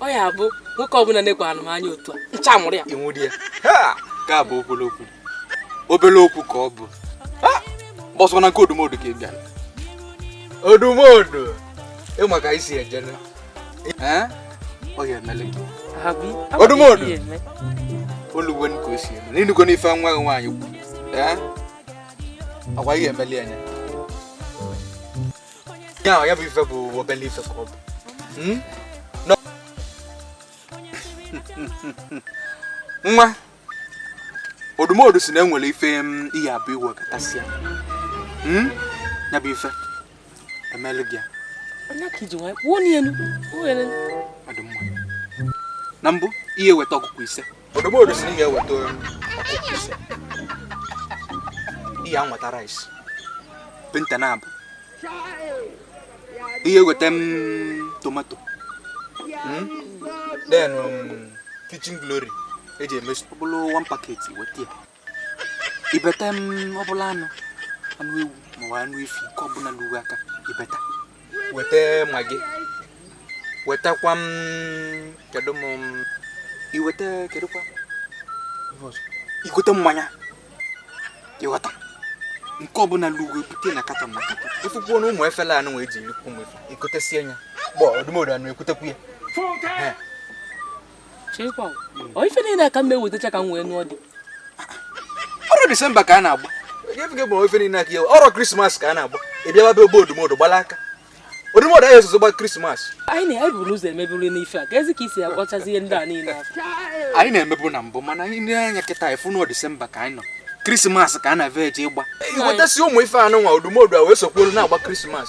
ọ ya bụ nwoke ọbụla na-ekwe anụ m anya otu a ncha mụrụ ya ịnwụrụ ya ka bụ obere okwu obere okwu ka ọ bụ ọ bụ sọ na nke odumodu ka ị bịara odumodu ị ma ka i si eje ọ ya-emelu gị odumodu olugbo ka o si elu n'inugo n'ife nwa gị nwaanyị kwuru agwa ihe emeli anya ya ya bụ ife bụ obele ife ka ọ bụ hmm? nwa odumodu si na enwere ife hmm, ị ya-ebu iwe katasịa hmm? ya bụ ife e melu gị ya na mbụ ị ya-eweta ọkụkọ ise odumodu si na ị ga-eweta ọkụkọ ise ị ya-enweta rice painter naabọ ị ya-eweta m tomato Hmm? then um, kitchen glory eji eme ọ bụrụ one packet weta ya ibeta m ọbụla anụ anụ ewu maọbụ anụ efi nke ọbụla lulu ị aka ibeta weta Maggi wetakwa m kedu m iweta kedụkwa igote mmanya i gota nke ọbụla lugo bute na katọn na katọn ị fụkwuo na ụmụ efele anụ wee ji erikwu ụmụ ife i gotesie nya gbọ odumodu anụ egotekwu ya chekwa ọ ife niile ka m ewetacha ka m wee nụọ di ọrụ disemba ka a na-agba ife niile aka ọrụ krismas ka a na-agba ị bịawa be odumodu gbala aka odumodu anyị esozo gba krismas anyị na-ebu n'ụzọ emeburu n'ife a kezi ka i si akpọchazi ihe ndị a niile anyị na-emebu na mbụ mana anyị na-anya kịta ị fụ n'ọ disemba ka anyị nọ krismas ka a na-eve eje ịgba iwetasi ụmụ ife anụ nwa odumodu a wee sokwuolu na-agba krismas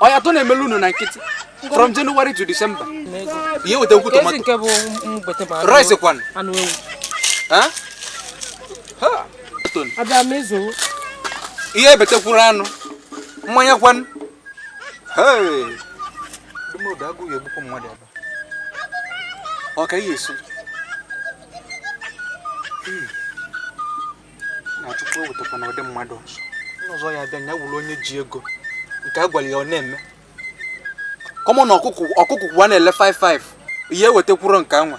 ọ ya tụ na-emelu unu na nkịtị from January to December ị ya-eweta nkwu tomato rice kwan ị ya-ebetekwuru anụ mmanya kwan ọ ka ihe esi na Chukwu ewetakwana ụdị mmadụ ọzọ ọzọ ya bịa ya wụrụ onye ji ego nke a gwara ya ọ na-eme common ọkụkọ ọkụkọ ka a na-ele 55 ị ya-ewetekwuru nke anwa